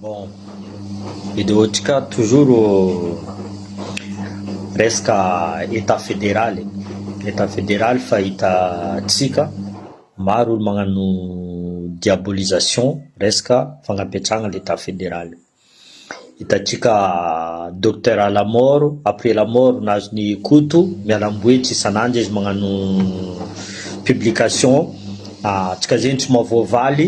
Bon, video ntsika toujours resaka etat federal e, etat federal fa hita tsika maro olo magnano diabolisation resaka fagnapetragna le etat federal, hitatsika docteur à la mort après la mort nazony Koto mialambohitry isan'andro izy magnano publication tsika zegny tsy mahavoavaly.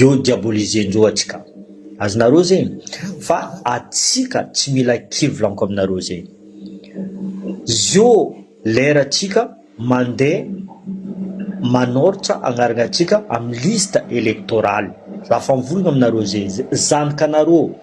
Eo diaboliser-ndreo atsika. Azonareo zegny? Fa atsika tsy mila kivy laniko aminareo zegny. Zio lera tsika mande manortsa agnaragna tsika am liste electorale. Za fa mivolagna aminareo zegny. Zanakanareo.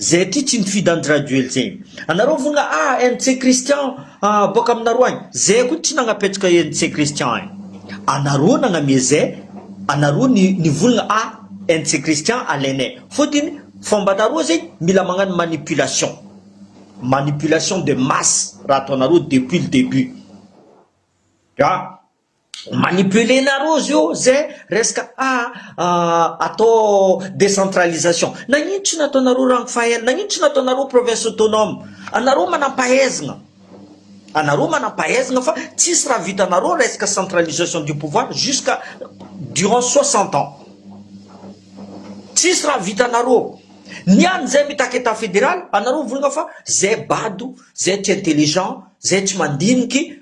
Zay aty tsy nifidy an drajoel zay anareo vogna a NC Christian a boaka aminareo agny zay koa tsy nagnapetraka NC Christian ai anareo nagname zay anareo ny nivolagna a NC Christian alainay fotiny fombanareo zay mila magnano manipulation manipulation de masse raha ataonareo depuis le debut a. Manipuler nareo zio ze resaka atao décentralisation. Nagnino tsy nataonareo Rangfael? Nagnino tsy nataonareo province autonome? Anareo manampahaizagna. Anareo manampahaizagna fa tsisy raha vitanareo resaka centralisation du pouvoir jusqu'à durant soixante ans. Tsisy raha vitanareo. Ny any zay mitaky etat fédéral anareo mivolagna fa zay bado, zay tsy intelligent, zay tsy mandiniky.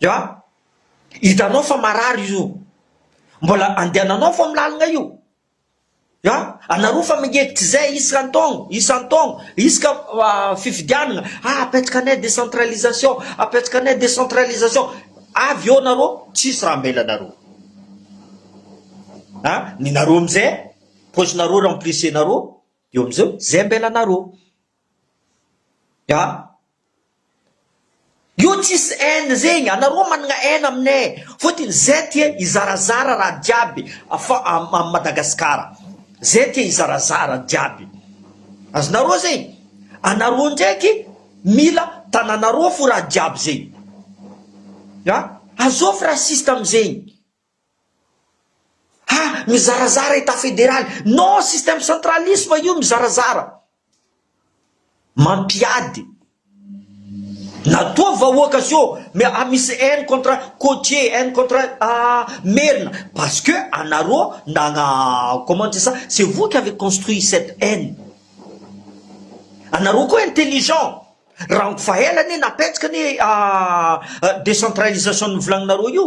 Ya, hitanao fa marary izy io. Mbola andehananao fa milalina io. Ya, anareo fa mangekitra izay isan-taogno, isan-taogno, isaka fifidianana, ah apetraka anay décentralisation, apetraka anay décentralisation. Avy eo nareo tsisy raha hamelanareo. Ah, ny nareo amizay, poche-nareo remplice-nareo, eo amizay, zay ambelanareo. Io tsisy haine zegny, anareo managna haine aminay e, fôtiny zay ty e hizarazara raha jiaby fa a Madagasikara, zay ty hizarazara jiaby, azonareo zegny, anareo ndraiky mila tananareo fô raha jiaby zegny, azôfy raciste amizegny. Ha mizarazara etat federaly non système centralisme io mizarazara mampiady na toa vahoaka zio mais a misy haine contre cotier haine contre merina parce que anareo nagna comment dire ça c'est vous qui avez construit cette haine anareo koa intelligent rango fa ela anie napetsaka anie decentralisation novolagninareo io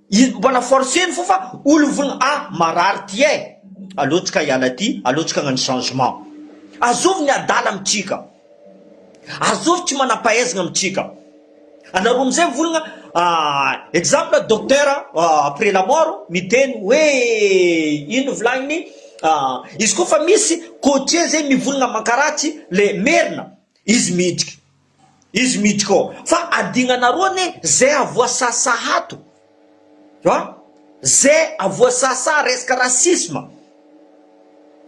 Izy mbola force ny fo fa olvn a marary ty eh. Aleo tsika hiala aty, aleo tsika hagnano changement. Azovy ny adala amintsika. Azovy tsy manampahaizagna amintsika. Anareo amizay mivolagna ahh exemple docteur après la mort miteny hoe ino volagniny ahh izy koa fa misy cotier zay mivolagna mankaratsy le merina izy miditra. Izy miditry ko fa adignanareo anie zay avoasasaha ato a zay avoasasaha resaka racisme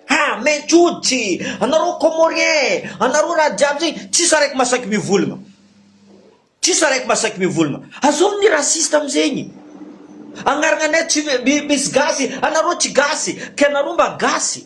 ha mainty hoditry anareo comorien anareo raha jiaby zay tsisy araiky masaky mivolagna tsisy araiky masaky mivolagna azao ny raciste amizegny agnaragnanay tsy misy gasy anareo tsy gasy ka anareo mba gasy.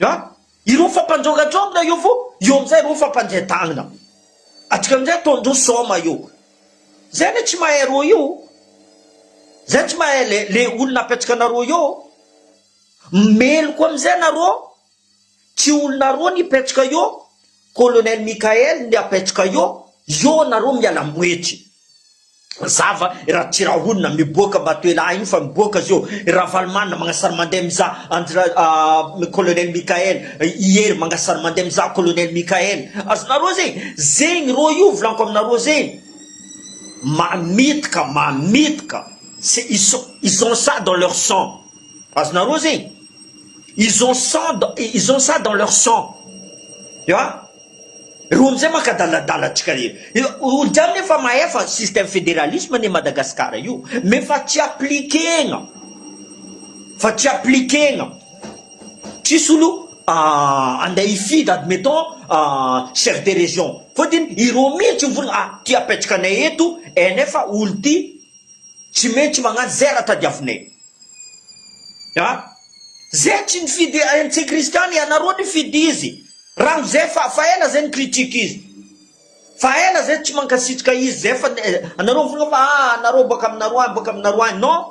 An! Ireo fampandrogadrogona io fo, eo amin'izay ireo fampandrian-tagnana. Atsika amin'izay ataon-droa soma io. Zay anie tsy mahay roa io. Zay tsy mahay le le olona apetrakanareo eo. Meloka amin'izay nareo, tsy olonareo ny hipetraka eo, Colonel Mickael ny apetraka eo, eo nareo miala-moetry. Mazava i Ratsirahonina miboaka Matoelahy io fa miboaka zao i Ravalomanana magnasara mandeha mizaha Andry Ra Colonel Michael i Hery magnasara mandeha mizaha Colonel Michael azonareo zegny zegny rô io volaniko aminareo zegny mamitaka mamitaka c'est ils sont ils ont ça dans leur sang azonareo zegny ils ont sang dans- ils ont ça dans leur sang tu vois Reo amzay maka daladala tsika e. Olo jiaby ne efa mahay fa système fédéralisme ne Madagascar io mais fa tsy appliquer-na. Fa tsy appliquer-na. Tsisy olo andeha hifidy admettons chef de région. Fotiny ireo mitsy mivolagna ah ty apetraka anay eto NF olo ty tsy maintsy magnano zay raha tadiavinay. A. Zay tsy nifidy antsika kristiana ianareo nifidy izy rano zay fa fa ela zay nicritique izy fa ela zay tsy mankasitrka izy zay fa anareo mifoka fa ah anareo boaka aminareo any boaka aminareo any non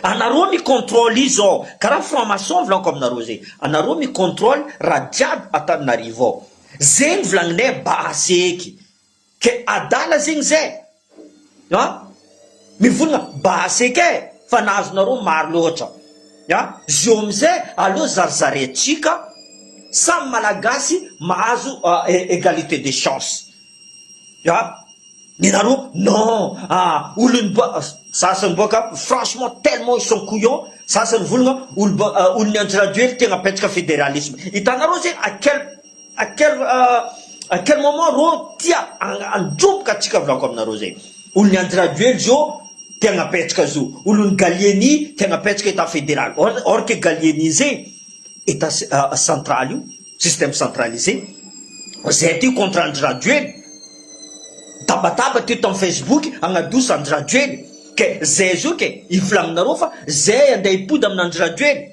anareo mi controle izy zao karaha franc maçon volako aminareo zay anareo mi controle raha jiaby ataninarivo ao zay ny volagninay base eky Ke adala zegny zay an! Mivolagna basy ake fa ny azonareo maro loatra an! Zio amizay aleo zarizarintsika samy malagasy mahazo egalite de chance an! Nenareo non an! Olon'ny ba sasany boaka franchement tellement ils sont couillon sasany mivolagna olo ba olon'ny andry rajoely tegna apetraka federalisme hitanareo zegny à quel À quel à quel moment rô tia handromboka antsika volako aminareo zay olon'i Andry Rajoely zo te hagnapetraka zo olon'i Gallieni te hagnapetraka état fédéral or or que Gallieni ze état central io système centralisé zay aty contre Andry Rajoely tabataba aty tam facebook hagnadosa Andry Rajoely ke zay zo ke hivolaninareo fa zay handeha hipody amin'Andry Rajoely.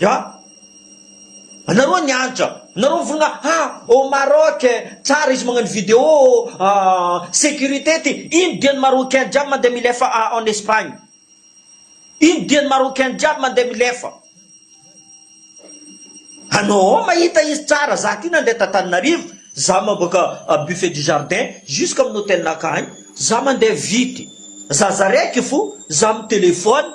Ya! Anareo ny hanitra, nareo mivolagna ha au Maroc tsara izy magnano video sécurité ty, ino dian'ny marocain jiaby mandeha milefa en Espagne, ino dian'ny marocain jiaby mandeha milefa, anao ao mahita izy tsara, za ty nandeha t'Antananarivo, za maboaka buffet du jardin jusque amin'ny hotel-nakah any, za mandeha vity, za zaraiko fo, za mi-telephone,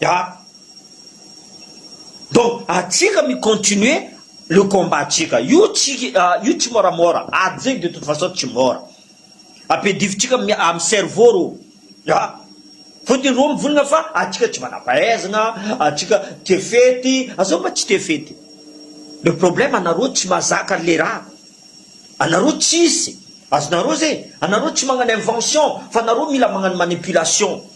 Ya. Donc atsika mi continuer le combat tsika. Io tsy io tsy moramora. Ady zegny de toute façon tsy mora. Ampedivintsika am cerveau rô. Ya. Fôtony rô mivolagna fa atsika tsy manampahaizagna, atsika tia fety, a zao mba tsy tia fety. Le problème anarô tsy mazaka le raha. Anarô tsisy azonarô zegny. Anarô tsy magnano invention fa anarô mila magnano manipulation.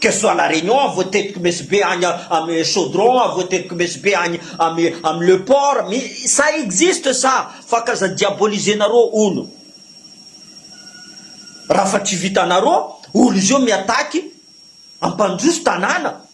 Que ce soit la Réunion à voatetiko Mesy Be any amy Chaudron à voatetiko Mesy Be any amy amy le port mi ça existe ça fa k'aza diaboliser-nareo hono raha fa tsy vitanareo hono izy io mi-attaque ampandroso tanàna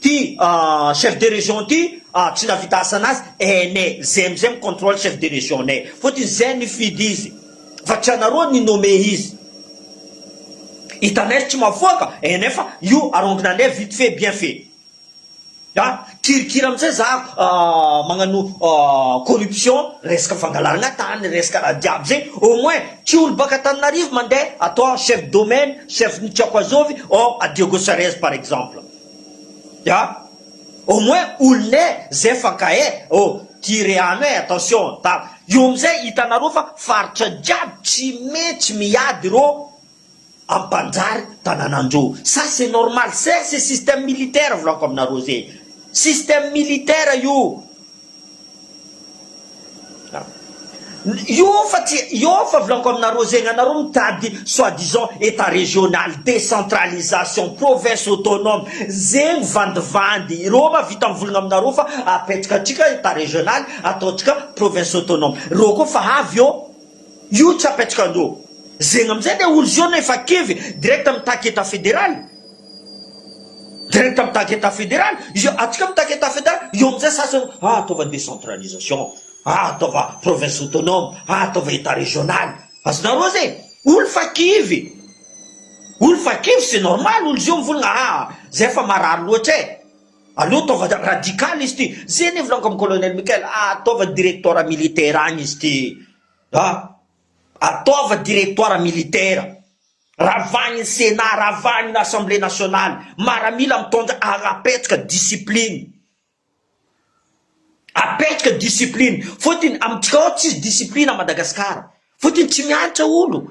Ty chef de région ty tsy navita asanazy ene zay amizay mi controle chef de région nay fotiny zay nifidy izy fa tsy anareo ni nomme izy hitanay tsy mafoaka ene fa io arongina anay vite fait bien fait a kirikira amizay za magnano corruption resaka fangalaragna tany resaka raha jiaby zay au moins tsy olo baka Antananarivo mande atao chef domaine chef ni tsy ako azovy or a Diego Sarez par exemple. Ya! Au moins olona e! Zay fa ka e! Oh! Tia rehano e! Attention an! Tara! Io amizay hitanareo fa faritra jiaby tsy metsy miady ireo am panjary tananandro! Ça c'est normal! Zay c'est système militaire volako aminareo zay! Système militaire io! Yôfa tsy yôfa volagniko aminareo zegny anareo mitady soit disant etat régional décentralisation province autonome zegny vandivandy ireo ma vita mivolagna aminareo fa apetraka atsika etat régional ataontsika province autonome reo koa fa avy eo Io tsy apetraka andro. Zegny amizay le olo zao nefa kivy direct mitaky etat federal. Direct mitaky etat federal. Izy atsika mitaky etat federal io amizay sasany ah ataova decentralisation ah ataova province autonome ah ataova etat regional. Azonareo zay? Olo fa kivy. Olo fa kivy c'est normal olo zio mivolagna ah zay fa marary loatra eh. Aleo ataova radical izy ty, zay anie volagiko am colonel Michael, ataova directoire militaire agny izy ty a, ataova directoire militaire, ravagny ny senat, ravagny ny assemblée nationale, maramila mitondra agny apetraka discipline, apetraka discipline, fotony amintsika ao tsisy discipline a Madagascar, fotony tsy miantra olo.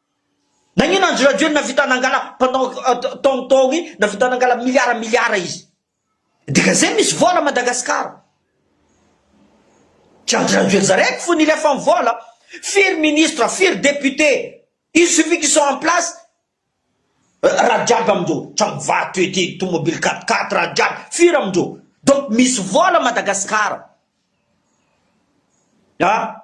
Nagnino andry radio navita nangala pendant taogny taogny navita nangala milliard milliard izy dika zay misy vola Madagascar tsy andry radio zareko fony ilefa ny vola firy ministre firy député il suffit qu'ils sont en place raha jiaby amindreo tragno vato ety tomobile quatre quatre raha jiaby firy amindreo donc misy vola Madagascar ah.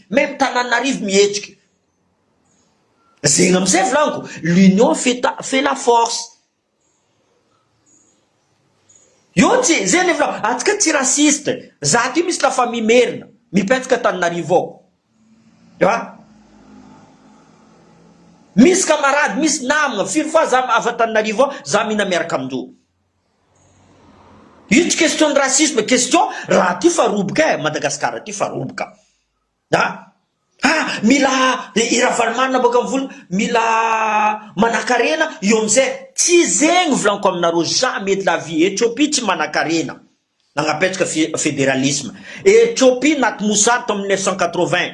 Même Tananarive mihetsika. Zegny amizay volaniko, l'union fait ta fait la force. Io tsy zay le volaniko, atsika tsy raciste, za aty misy la famille merina, mipetsaka Tananarive ao. An! Misy camarade, misy namagna, firy fois za avy Antananarivo ao, za mihina miaraka amindreo. Ito question ny racisme question raha aty fa roboka eh Madagascar aty fa roboka a a mila i Ravalomanana boaka am vola mila manakarena eo amizay tsy zegny volaniko aminareo jamais de la vie Ethiopie tsy manakarena nagnapetraka federalisme Ethiopie naty mosary tamin'ny mille neuf cent quatre vingt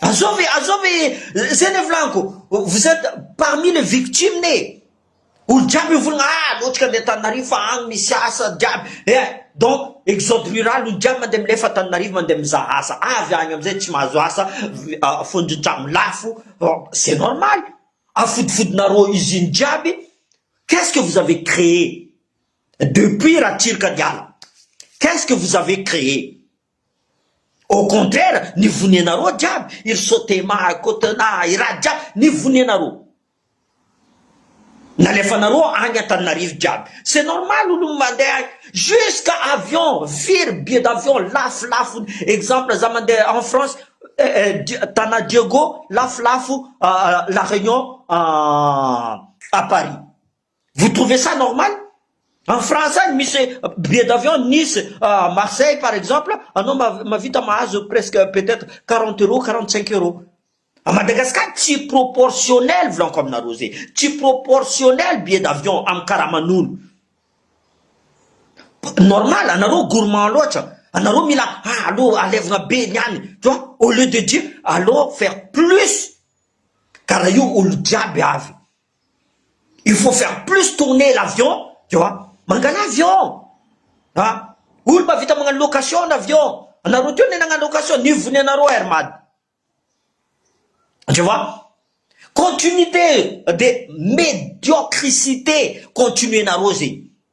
Azao ve, azao ve eh, zay le volaniko, vous êtes parmi les victimes eh, olo jiaby mivolagna ah lotika any Antananarivo fa agny misy asa jiaby eh, donc exode rural olo jiaby mandeha milefa Antananarivo mandeha mizaha asa, avy agny amizay tsy mahazo asa, fondron-tragno lafo, c'est normal, afodifodinareo usine jiaby, qu'est-ce que vous avez créé depuis Ratsiraka niala, qu'est-ce que vous avez créé? Au contraire ny vonianareo jiaby i ry sotema, i kotona, i rad jiaby ny vonianareo nalefanareo agny antananarivo jiaby c'est normal olo mandeha agny jusqu'à avion firy billet d'avion lafolafony exemple za mandeha en France tana diego lafolafo la réunion à Paris Vous trouvez ça normal? En France any misy billet d'avion Nice Marseille par exemple anao mahavita mahazo presque peut-être quarante euros quarante cinq euros. A Madagascar tsy proportionnel volaniko aminareo zay tsy proportionnel billet d'avion amin'ny karaman'olo. Normal anareo gourmand loatra anareo mila ah aleo alevina be ny any tu vois au lieu de dire aleo faire plus ka raha io olo jiaby avy. Il faut faire plus tourner l'avion tu vois, mangalà avion a! Olo mba vita magnano location ny avion, anareo teo ne nagnano location nivo ny anareo Air Mad tu vois, continuité de médiocricité continuer nareo zegny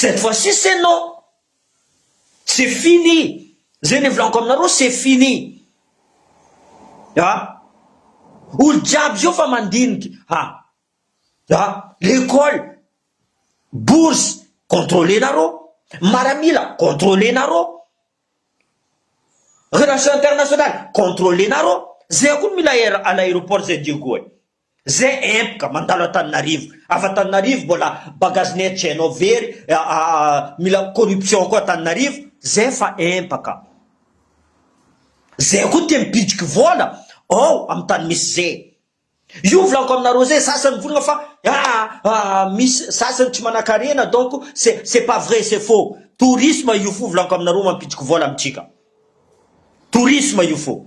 Cette fois ci c'est non! C'est fini! Zay nivolaniko aminareo c'est fini! Ah! Olo jiaby zao fa mandinika! Ha! Ha! L'école! Bourse! Contrôler-nareo! Maramila! Contrôler-nareo! Relation internationale! Contrôler-nareo! Zay koa mila air à l'aéroport zay Diego e! Ze epoka mandalo Antananarivo. Avy Antananarivo mbola bagazinay tsy hainao very mila corruption koa Antananarivo ze efa empaka. Ze koa te mipidiky vola ao am tany misy ze. Io volako aminareo ze sasany mivolagna fa aa misy sasany tsy manakarena donc ce ce pas vrai ce faux. Tourisme io fo volako aminareo mampidiky vola amitsika. Tourisme io fo.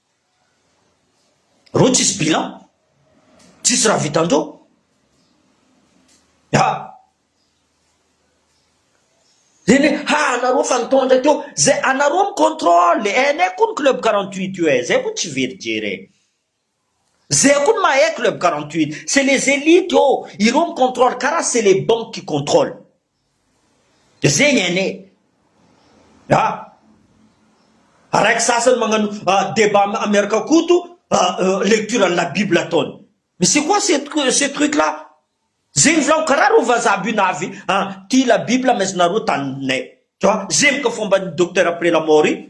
Reo tsisy bilan, tsisy raha vitan-dreo. Haa! Zay le ha anareo fa nitondra teo, zay anareo mi controle e, hainay koa ny club quarante huit io e, zay koa tsy very jery e, zay koa ny mahay club quarante huit, c'est les elites ô, ireo mi controle karaha c'est les banques qui controle. Dia zegny anie e! A! Araiky sasany magnano débat miaraka Koto lecture an'i la bible ataony. Mais c'est quoi ce truc là? Zegny zaho karaha reo vazaha bunavy tia la bible mais nareo taninay. Tu vois? Zemka fomban'i Docteur après la mort io.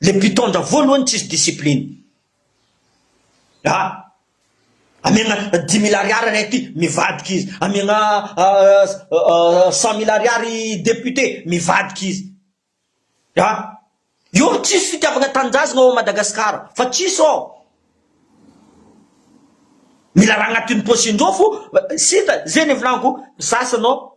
Le mpitondra voalohany tsisy discipline a! Amiagna dix mille ariary ray ty mivadika izy, amiagna cent mille ariary député mivadika izy a! Io no tsisy fitiavagna tanindrazagna ao Madagasikara fa tsisy ô! Mila raha agnatin'ny paosindreo fo, sisa zegny ny volagno ko, ny sasany ô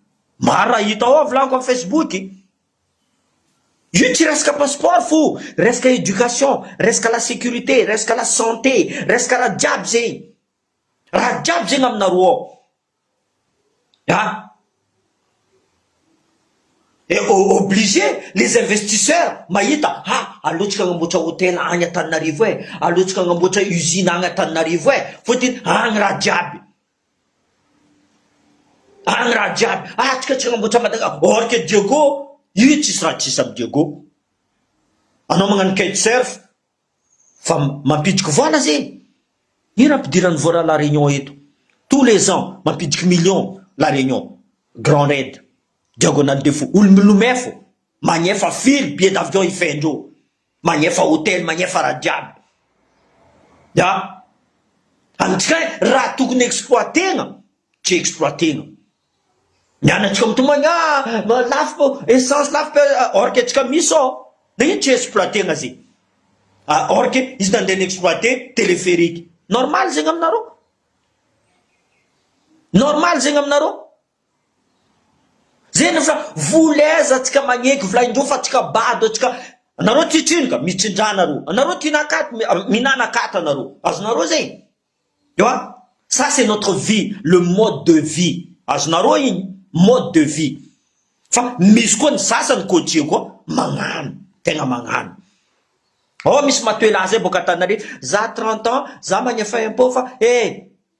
Maro raha hita ao vlog am facebook. Io tsy resaka passeport fo resaka education, resaka la securite, resaka la sante, resaka raha jiaby zegny. Raha jiaby zegny aminareo ao. A! Eh o obligé les investisseurs mahita ha aleontsika agnamboatra hotel agny Antananarivo eh, aleontsika agnamboatra usine agny Antananarivo eh, fôtony agny raha jiaby. Ary raha jiaby atsika tsy hanamboatra Madaga or que Diego io tsisy raha tsisy am Diego anao magnano kite surf fa mampidiky vola zegny ino ampidirany vola la Réunion eto tous les ans mampidiky millions la Réunion grand red diagonale de fou olo milomay fô magnefa firy billet d'avion hifehin-dreo. Magnefa hotely magnefa raha jiaby ya antsika raha tokony exploiter-na tsy exploiter-na ny anantsika mitomany ah lafo essence lafo be or que antsika misy sao de ino tsy exploiter-na zegny ah or que izy nandeha ni-exploiter telepherique normal zegny aminareo normal zegny aminareo. Zeny fa vola aiza atsika magneky vola indreo fa atsika bado atsika anareo tia trinoka mitsindraha nareo anareo tia nakaty minana akaty anareo azonareo zay ewa ça c'est notre vie le mode de vie azonareo iny mode de vie fa misy koa ny sasany cotier koa magnano tegna magnano ao misy matoela zay boka antananarivo za trente ans za magnefa impot fa eh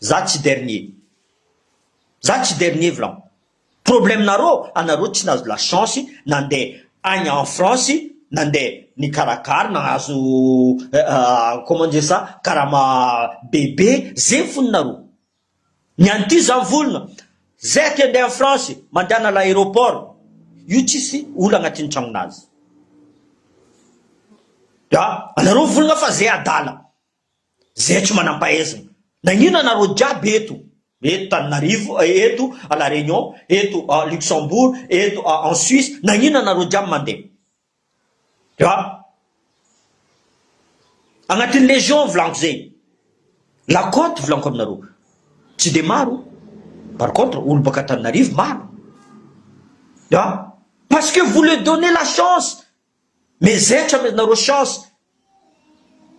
Za tsy dernier. Za tsy dernier vlan. Problème nareo anareo tsy nahazo la chance nande agny en France nande nikarakara nahazo comment dire ça karama bebe zegny fony nareo. Ny an'ity za mivolagna zay te ande en France mandehana l'aeroport io tsisy olo agnatin'ny tragnonazy. Ya anareo mivolagna fa zay adala. Zay tsy manampahaizina. Nagnina nareo jiaby eto. Eto Tananarivo, eto à la Réunion, eto à Luxembourg, eto à en Suisse, nagnina nareo jiaby mandeha. Dia agnatin'ny légion volagno zay. La côte volaniko aminareo. Tsy dia maro. Par contre olo baka Tananarivo maro. Dia parce que vous le donnez la chance. Mais zaitra mais nareo chance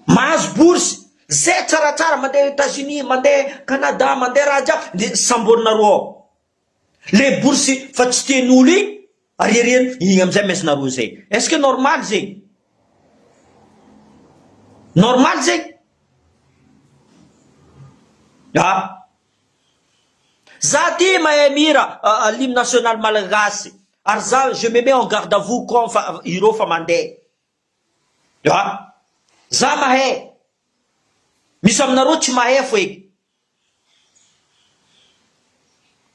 mahazo bourse zay tsaratsara mandeha Etats Unis mandeha Canada mandeha raha jiaby de samborinareo ao le bourse fa tsy tian'olo iny ariariany iny amizay mais nareo zay est ce que normal zegny normal zegny ah. Za tia mahay mihira l'hymne national malagasy ary za je me mets en garde à vous com fa ireo fa mandeha a! za mahay misy aminareo tsy mahay fo e!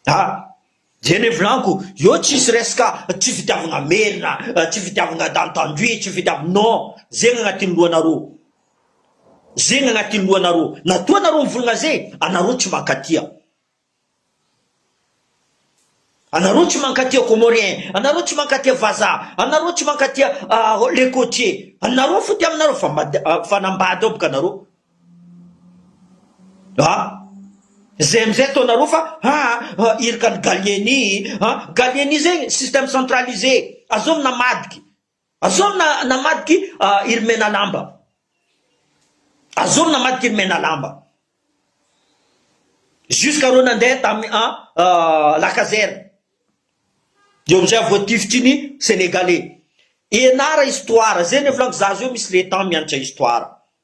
a! Dia nevolanko eo tsisy resaka tsy fitiavagna merina, tsy fitiavagna dans tendue, tsy fitiavagna non, zegny agnatin'ny lohanareo, zegny agnatin'ny lohanareo, na toa anareo mivolagna ze, anareo tsy mankatia, anareo tsy mankatia comorien, anareo tsy mankatia vazaha, anareo tsy mankatia le cotier, anareo fo tia aminareo fa fanambady ao boka anareo, Ah! Zay amizay taona roa fa haa irika an'i Gallieni an! Gallieni zay système centralisé azony namadiky azony namadiky i ry Menalamba azony namadiky i ry Menalamba jusqu'à reo nandeha tamy an la caserne eo amizay vao tifitry ny Senegalais ianara histoire zay ny volagniky za zao misy le temps mianatra histoire.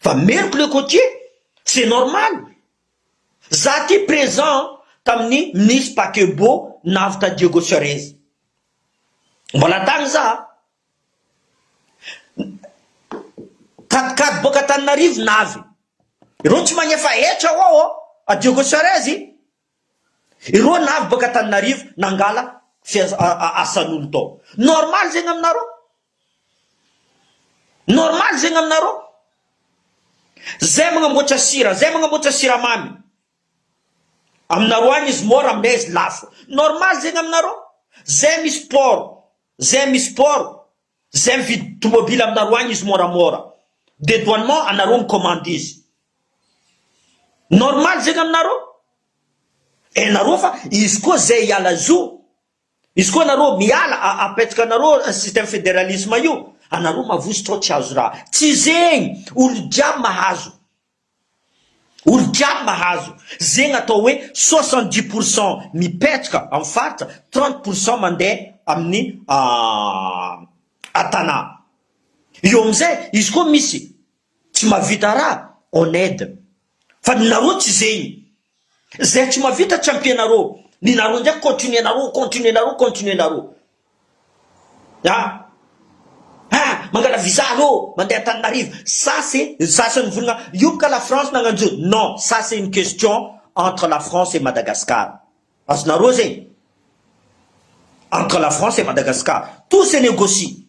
Fa meriko le côtier, c'est normal. Za ty présent tamin'ny nisy paquebot navotra Diego Suarez. Mbola tany za. Kadikady boaka Antananarivo navy. Ireo tsy magnefa hetra ao ao a Diego Suarez. Ireo navy baka Antananarivo nangala asan'olo tao. Normal zegny aminareo? Normal zegny aminareo? Zay magnamboatra sira, zay magnamboatra siramamy, aminareo agny izy môra aminay izy lafo. Normal zegny aminareo? Zay misy port, zay misy port, Zay mividy tomobile aminareo agny izy môramôra dedouanement anareo mikomandy izy normal zegny aminareo enareo fa izy koa zay hiala zo izy koa anareo miala apetaka anareo système federalisme io anareo mavozo trao tsy azo raha tsy zegny olo jiaby mahazo Olon-tiany mahazo zegny atao hoe soixante dix pour cent mipetraka amin'ny faritra, trente pour cent mandeha amin'ny Tana. Eo amin'izay izy koa misy tsy mahavita raha on aide. Fa ny nareo tsy zegny. Zay tsy mavita tsy ampianaro ny nareo ndray continuer nareo continuer nareo continuer nareo a a mangala visa aleo mande Antananarivo ça c'est ny sasany vonona hioboka la France nagnanjo non ça c'est une question entre la France et Madagascar azonareo zegny entre la France et Madagascar tout se negocie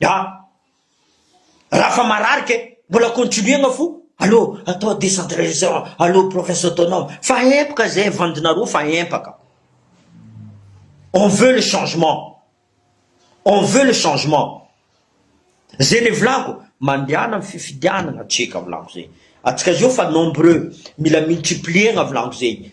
Ya! Raha fa marary ke mbola continuer-gna fo allo atao décentralisation allo province autonome fa empaka zay vandinareo fa empaka on veut le changement on veut le changement zay le volako mandehana am fifidianagna tsika volako zay atsika zao fa nombreux mila multiplier-gna volako zay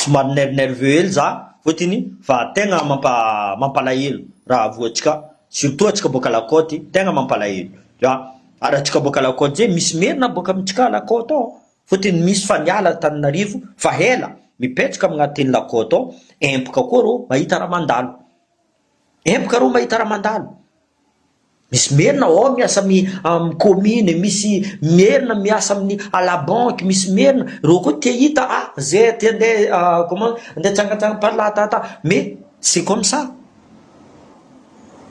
Somary ner nerveux hely za fotiny fa tegna mampa mampalahelo raha voa tsika surtout atsika boaka la cote tegna mampalahelo za ary atsika boaka la cote zay misy merina boaka amitsika la cote ao fotiny misy fa niala Antananarivo fa hela mipetraka amignatin'ny la cote ao empoka koa reo mahita raha mandalo. Empoka rô mahita raha mandalo. Misy merina ao miasa amin'ny amin'ny commune, misy merina miasa amin'ny à la banque, misy merina reo koa te hita ah ze te handeha comment handeha hitsangantsangana par là ta ta mais c'est comme ça.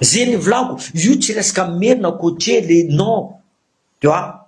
Ze nivolagno io tsy resaka merina coacher le non tu vois.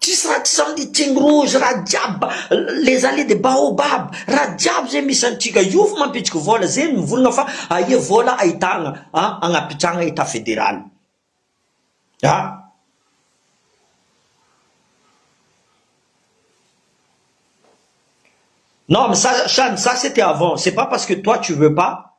Tsisy raha tsy zany ity ny rozy raha jiaby les allez de baobab raha jiaby zay misy antsika io fo mampitsiky vola zay mivolagna fa aia vola ahitagna a agnapitragna etat federal a. Non mais ça ça ça c'était avant c'est pas parce que toi tu veux pas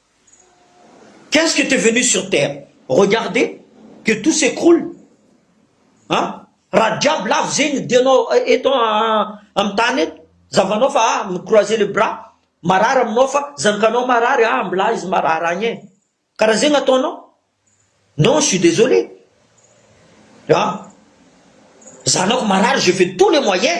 Qu'est ce que tu es venu sur terre regarder que tout s'ecroule a! Raha jiaby lavo zegny ny dianao eto amin'ny tany eto, zahavanao fa ah mi croiser les bras, marary aminao fa zanakanao marary ah mbilà izy marary agny e! Karaha zegny ataonao? Non je suis désolé ah! Zanako marary je fais tous les moyens.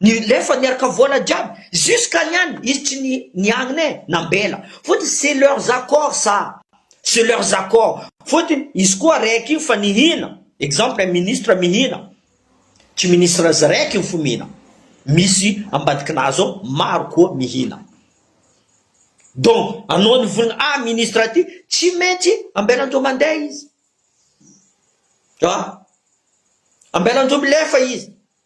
Ny lefa niarka vola jiaby jusqu'à ny any izy tsy niangn e nambela fotiny c'est leurs accords ça c'est leurs accords fotiny izy koa raiky io fa nihina exemple un ministre mihina tsy ministre izy raiky io fo mihina misy ambadikinazy ao maro koa mihina donc anao nivolagna ah ministre ty tsy maintsy ambelanjo mandeha izy ah ambelanjo milefa izy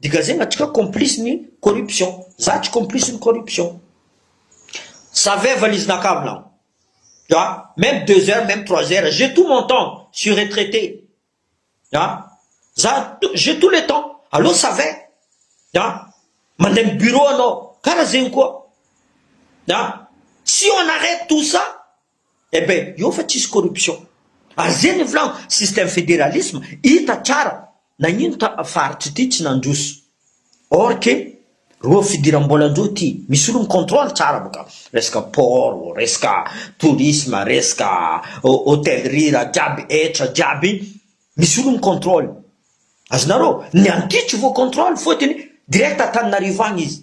Degagena atsika complice ny corruption za tsy complice ny corruption savais valise na cable an tu vois meme deux heures meme trois heures j'ai tout mon temps suis retraite an za j'ai tout le temps aleo savais an mandeha am bureau anao kara zegny koa an si on arrete tout ça Eh ben eo fa tsisy corruption. Ary ze ny volagno système federalisme hita tsara nagnino ta faritry ty tsy nandroso. Or que roa fidirambola ndro ty misy olo mi controle tsara boka resaka port ô, resaka tourisme, resaka hotellerie raha jiaby hetra jiaby misy olo mi controle. Azonareo? Ny antitry voa controle fotony direct Antananarivo agny izy.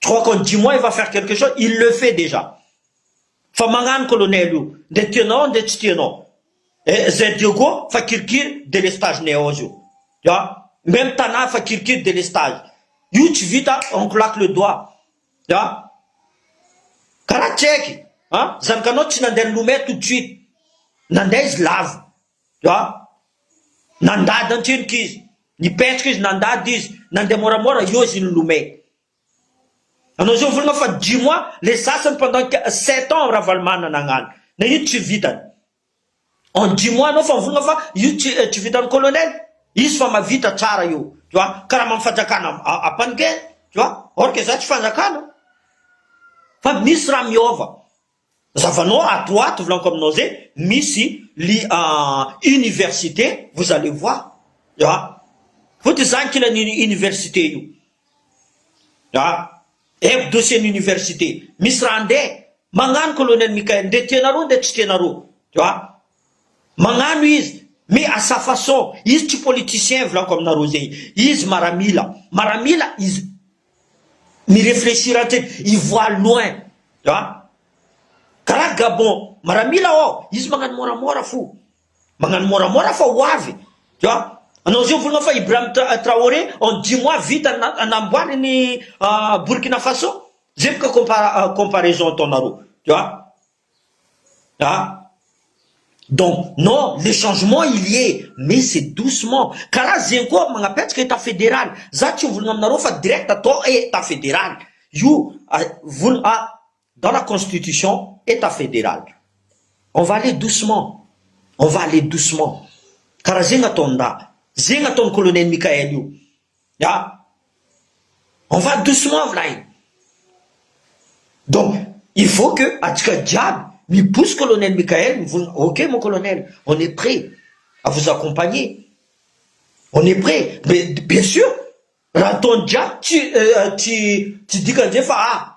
Trois con dix mois il va faire quelque chose, il le fait dejà fa magnano colonel io ndre tianao ndre tsy tianao eh zay Diogo fa kirikiry delestage neos io ya meme Tana fa kirikiry delestage io tsy vita on claque le doigt ya karaha tsy haiky an zanakanao tsy nandeha nilomay tout de suite nandeha izy lavo Dia nandady an-trenoka izy. Nipetraka izy, nandady izy, nandeha moramora, eo izy nilomay. Anao zao volana fa dix mois, le sasany pendant sept ans Ravalomanana nagnano. Na io tsy vitany. En dix mois anao fa mivolagna fa io tsy tsy vitan'ny colonel. Izy fa mahavita tsara io. Tu vois? Karaman'ny fanjakana apan'I Guerre. Tu vois? Or que za tsy fanjakana. Fa misy raha miova. Zavanao ato ato volaniko aminao zay misy li université vous allez voir a vao ty zany kila ny université io a aivo dossier ny université misy raha nde magnano colonel Michael nde tianareo nde tsy tianareo tu a magnano izy mais à sa façon izy tsy politicien volaniko aminareo zay izy maramila maramila izy mi-reflechir hatreny, i voit loin a! Karaha Gabon, maramila aho, izy magnano môramôra fo, magnano môramôra fa ho avy, tu vois, anao zay mivolagna fa Ibrahim Traoré en dix mois vita ny namboariny Burkina Faso, zay boka comparaison ataonareo, tu vois. Ah! Donc non, le changement il y est mais c'est doucement, karaha zegny koa magnapetraka état fédéral, za tsy mivolagna aminareo fa direct atao état fédéral, io vol a dans la constitution état fédéral, on va aller doucement, on va aller doucement, karaha zegny ataon-draha, zegny ataon'i colonel Mickaël io. Ya. On va doucement v'lay. Donc il faut que antsika jiaby mibos colonel Mickael mivozona ok mon colonel on est près à vous accompagner on est près mais bien sur raha ataony jiaby tsy tsy dikany zay fa ah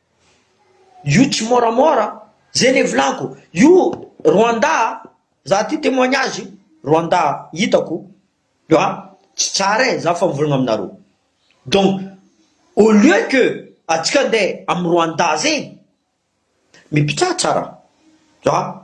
Io tsy môramôra a! Zay le volako, io Rwanda a! Za ty témoignage io, Rwanda a! Hitako io a! Tsy tsara e! Za fa mivolagna aminareo, donc au lieu que antsika andeha am Rwanda zegny, mipitraha tsara, zah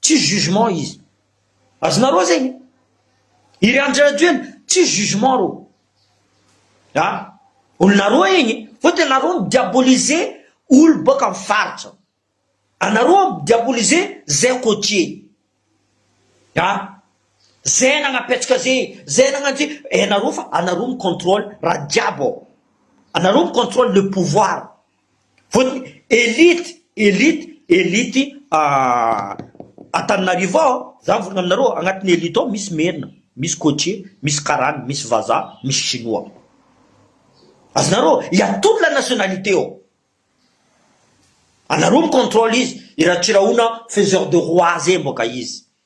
Tsisy jugement izy. Azonareo zegny? Iry Andry Rajoelina, tsisy jugement reo. Ha? Olonareo egny, fôtony anareo mi-diaboliser olo bôka am faritra. Anareo mi-diaboliser zay côtier. Ha? Zay nagnapetraka ze, zay nagnano ze, hainareo fa anareo mi-contrôle raha jiaby ao. Anareo mi-contrôle le pouvoir. Vote elite elite elite Antananarivo ao za mivory aminareo agnatin'ny elite ao misy merina misy cotier misy karana misy vazaha misy chinois azonareo il a toute la nationalité ao anareo mi controle izy i Ratsirahona faiseur de roi zay mboka izy.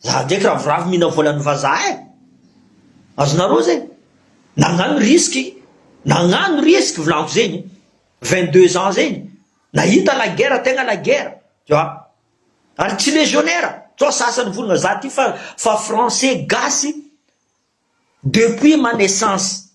Za ndraiky ravoravo mihina volan'ny vazaha eh! Azonareo zay? Nagnano risque, nagnano risque volako zegny, vingt deux ans zegny, nahita la guerre tegna la guerre, tu vois? Ary tsy légionnaire, sao sasany volagna za ty fa fa français gasy depuis ma naissance,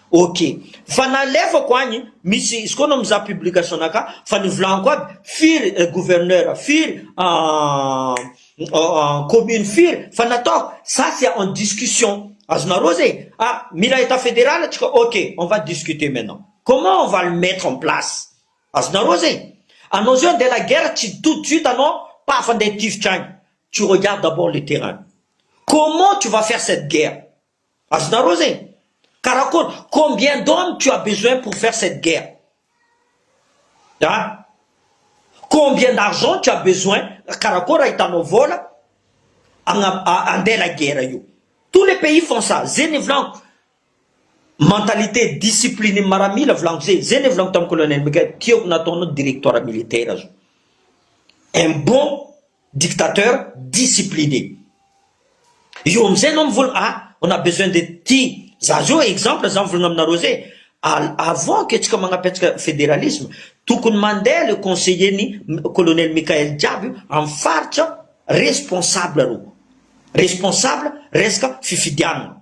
Ok. Fa nalefako agny misy izy koa anao mizaha publication anakah fa nivolaniko aby firy gouverneur firy commune firy fa natao ça c'est en discussion azonareo zay ah mila etat federal atsika ok on va discuter maintenant comment on va le mettre en place azonareo zay anao zao andeha la guerre tsy tout de suite anao paf andeha hitifitra agny tu regardes d'abord le terrain comment tu va faire cette guerre Azonareo zegny? Karakôry? Combien d'hommes tu as besoin pour faire cette guerre? A! Combien d'argent tu as besoin? Karakôry ahitanao vôla agna andeha la guerre io? Tous les pays font ça, ze ny volanko, mentalité discipline maramila volanko ze, ze le volanko tam colonel Mika, tiako nataonao directoire militaire zao, un bon. dictateur discipline io amizay anao mivolagna ah on a besoin de ty za zao exemple za mivolagna aminareo zay avant que tsika magnapetraka federalisme tokony mandeha le conseiller ny colonel Mickael jiaby io amy faritra responsable reo responsable resaka fifidianana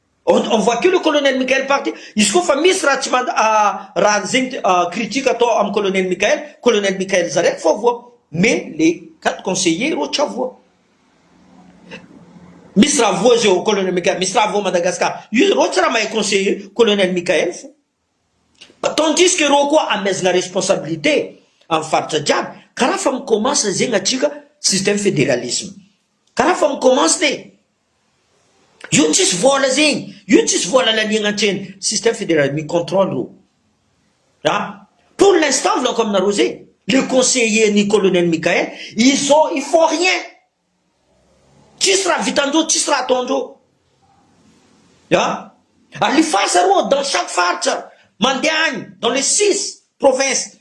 On on voit que le colonel Mickael parti, izy koa fa misy raha tsy mand raha anzegny critique atao am colonel Mickael, colonel Mickael zare efa voa, mais le quatre conseillers reo tsa voa. Misy raha voa zeo colonel Mickael, misy raha voa Madagascar, io reo tsy raha mahay conseiller colonel Mickael fô. Atandrisika eroa koa amezana responsabilité am faritra jiaby karaha fa mi commence zegny atsika système federalisme karaha fa mi commence ne io tsisy vola zegny io tsisy vola laniagna antsena système federal mi controle o a pour l'instant volako aminareo zegny le conseiller ny colonel Mickaël ils ont ils font rien Tsisy raha vitan-dreo, tsisy raha ataon-dreo. Ah, alifasa roa dans chaque faritra, mandeha agny dans les six provinces.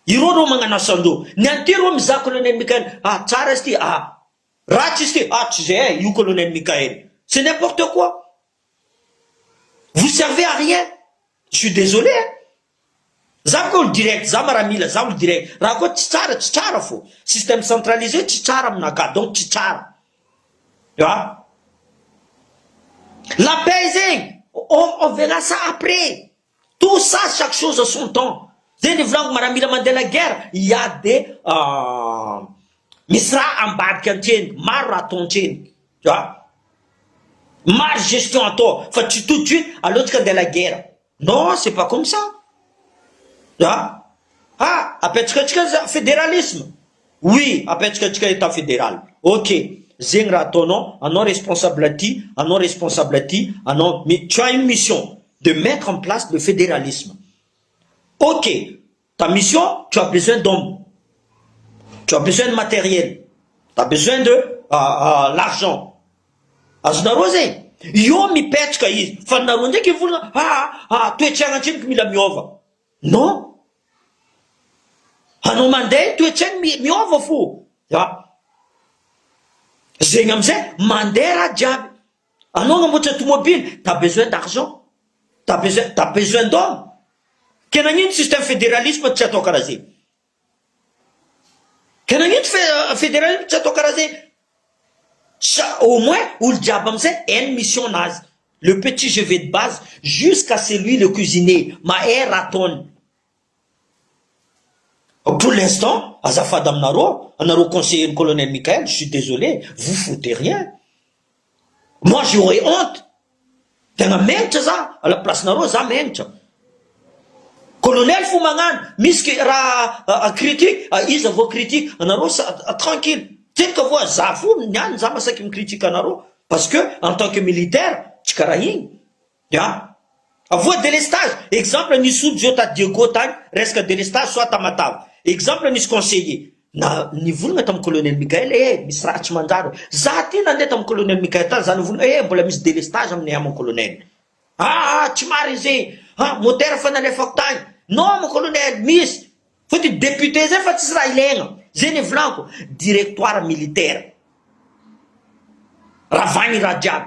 Ireo reo magnano asan-dreo. Ny an'ity reo mizaha colonel Mickael, ah tsara izy ty, ah ratsy izy ty, ah tsy zay eh, io colonel Mickael. C'est n'importe quoi. Vous servez à rien, je suis désolé hein! Za koa olo direct, za maramila, za olo direct, raha koa tsy tsara, tsy tsara fô! Système centralisé tsy tsara aminakahy, donc tsy tsara! An! La paix zegny, on on verra ça après! Tout ça chaque chose a son temps Zay ny volagno maramila mandeha la guerre hiady de misy raha ambadika antreny maro raha atao antreny a maro gestion atao fa tsy tout de suite aleontsika andeha la guerre non c'est pas comme ça a ah apetsaka antsika za federalisme Oui apetraka atsika etat federal ok zegny raha ataonao anao responsable aty anao responsable aty anao mais tu as une mission de mettre en place le federalisme ok ta mission tu as besoin d'homme tu as besoin de materiel tu as besoin de l'argent azonareo zay eo mipetraka izy fa nareo ndraiky hivolagna aa toetragna atsimo ko mila miova. Non! Anao mandeha ny toetsainy miova fo a! Zegny amizay mandeha raha jiaby, anao agnamboatra tomobily t'as besoin d'argent, t'as besoin t'as besoin d'homme, ke nagnino système federalisme tsy atao karaha zegny? Ka nagnino fe federalisme tsy atao karaha zegny sa au moins olo jiaby amzay hainy ny mission nazy le petit je vais de base jusqu'à celui le cuisinier mahay raha ataony pour l'instant azafady aminareo anareo conseiller ny colonel Mickaël je suis désolé vous fout de rien. Moi j'aurais honte, tena menitra za à la place nareo za menitra. Colonel fo magnano, misy ke raha critique, iza vao critique anareo sa tranquille. Tiko avoa za fo niany za masaky mi critique anareo parce que en tant que militaire tsy karaha igny. Ya. Avoa délestage, exemple nisy olo zao ta Diego tany, resaka délestage soit Tamatave. Exemple nisy conseiller na nivolagna tam colonel Mickaël ee misy raha tsy manjary ô. Za ty nande tam colonel Mickaël tany za nivolagna ee mbola misy délestage aminay ama colonel. Aa tsy marigny zegny, ha moteur fa nalefako tagny. Non ma colonel, misy. Fa ty député zay fa tsisy raha ilaigna. Zay nivolagnako, directoire militaire. Ravagny raha jiaby.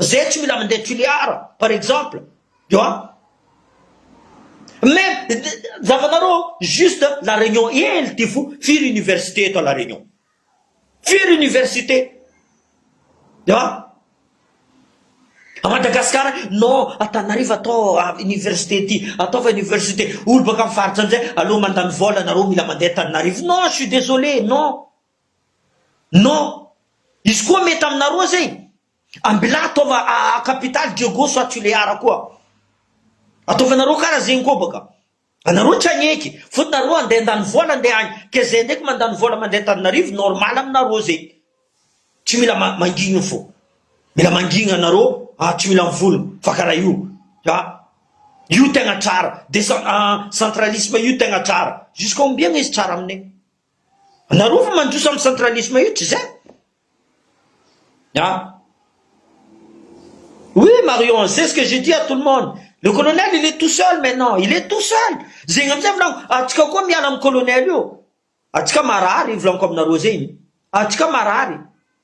Zay tsy mila mandeha Tulear par exemple tu vois mais zavanareo juste la Réunion hely ty fo firy université eto à la Réunion firy université tu vois à Madagascar non Antananarivo atao université ty ataova université olo baka am faritra amizay aleo mandany vola nareo mila mandeha Antananarivo non je suis désolé non. Non! Izy koa mety aminareo zay! Ambilà ataova a capital Diego soit tu le ara koa! Ataovanareo kara zegny koa baka! Anareo tsy agneky! Fô nareo andeha andany vôla andeha agny! Ke zay ndraiky mandany vôla mandeha Antananarivo normal aminareo zay! Tsy mila ma mangigny fô! Mila mangigny anareo a tsy mila mivologno fa kara io! A! Io tegna tsara! Desa a centralisme io tegna tsara! Jusqu'à ombiagna izy tsara aminay? Nareo fa mandroso am centralisme io tsy zay a. Oui Marion c'est ce que j'ai dit à tout le monde le colonel il est tout seul maintenant il est tout seul zegny amizay volaniko atsika koa miala am colonel io atsika marary volaniko aminareo zegny atsika marary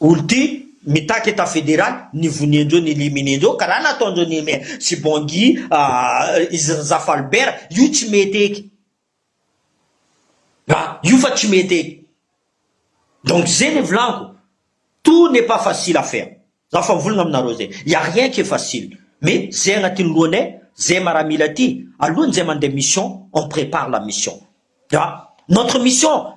Olo ty mitaky etat federal ny voniandreo ny eliminendreo karaha nataondreo Neymar sy Bangui ahh izy Razafalbert io tsy mety eky ah io fa tsy mety eky donc ze le vlaniko tout n'est pas facile à faire za fa mivolagna aminareo ze il y'a rien qui est facile mais ze agnatin'ny lohanay ze maramila ty alohan'izay mandeha mission on prépare la mission ah notre mission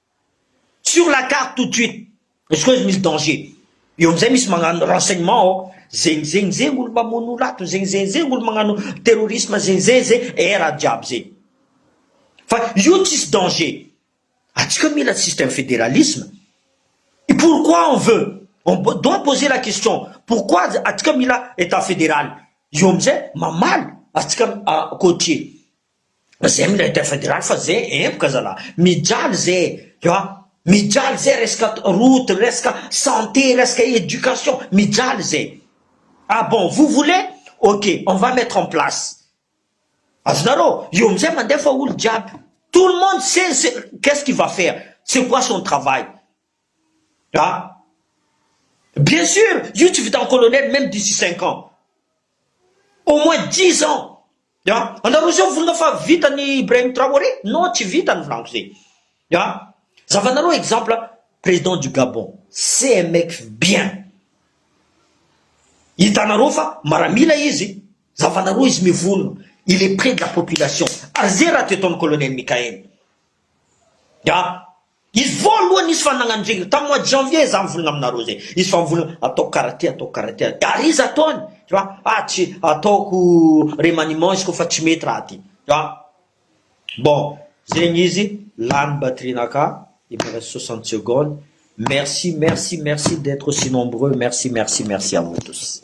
sur la carte tout de suite izy koa izy misy danger eo amizay misy magnano renseignement ao zegny zegny zegny olo mamono olo ato zegny zegny zegny olo magnano terrorisme zegny zegny zegny eh raha jiaby zegny fa io tsisy danger atsika mila système fédéralisme et pourquoi on veut on doit poser la question pourquoi atsika mila état fédéral eo amizay mamaly atsika côtier Ze milay dia federal fa ze empoka zalah mijaly ze ah mijaly ze resaka route resaka santé resaka education mijaly ze ah bon vous voulez ok on va mettre en place azonareo io amizay mandefa olo jiaby tout le monde sait ce qu'est ce qui va faire c'est quoi son travail Ah! Bien sur, io tsy vitan'ny colonel meme d'ici cinq ans, au moins dix ans ah! Anareo zao volana fa vitan'i Ibrahim Traoré? Non tsy vitany volako zay ah! Zavanareo exemple president du Gabon CMX bien hitanareo fa maramila izy, zavanareo izy mivono, il est près de la population ary zay raha te ataon'i colonel Mickaël ah! Izy voalohany izy fa nagnano zay tam mois de janvier za mivolagna aminareo zay izy fa mivolagna ataoko kara ty ataoko kara ty ary izy ataony fa ah tsy ataoko remaniement izy koa fa tsy mety raha ty fa bon zegny izy lany batterie naka il me reste soixante secondes merci merci merci d'etre aussi nombreux merci merci merci à vous tous.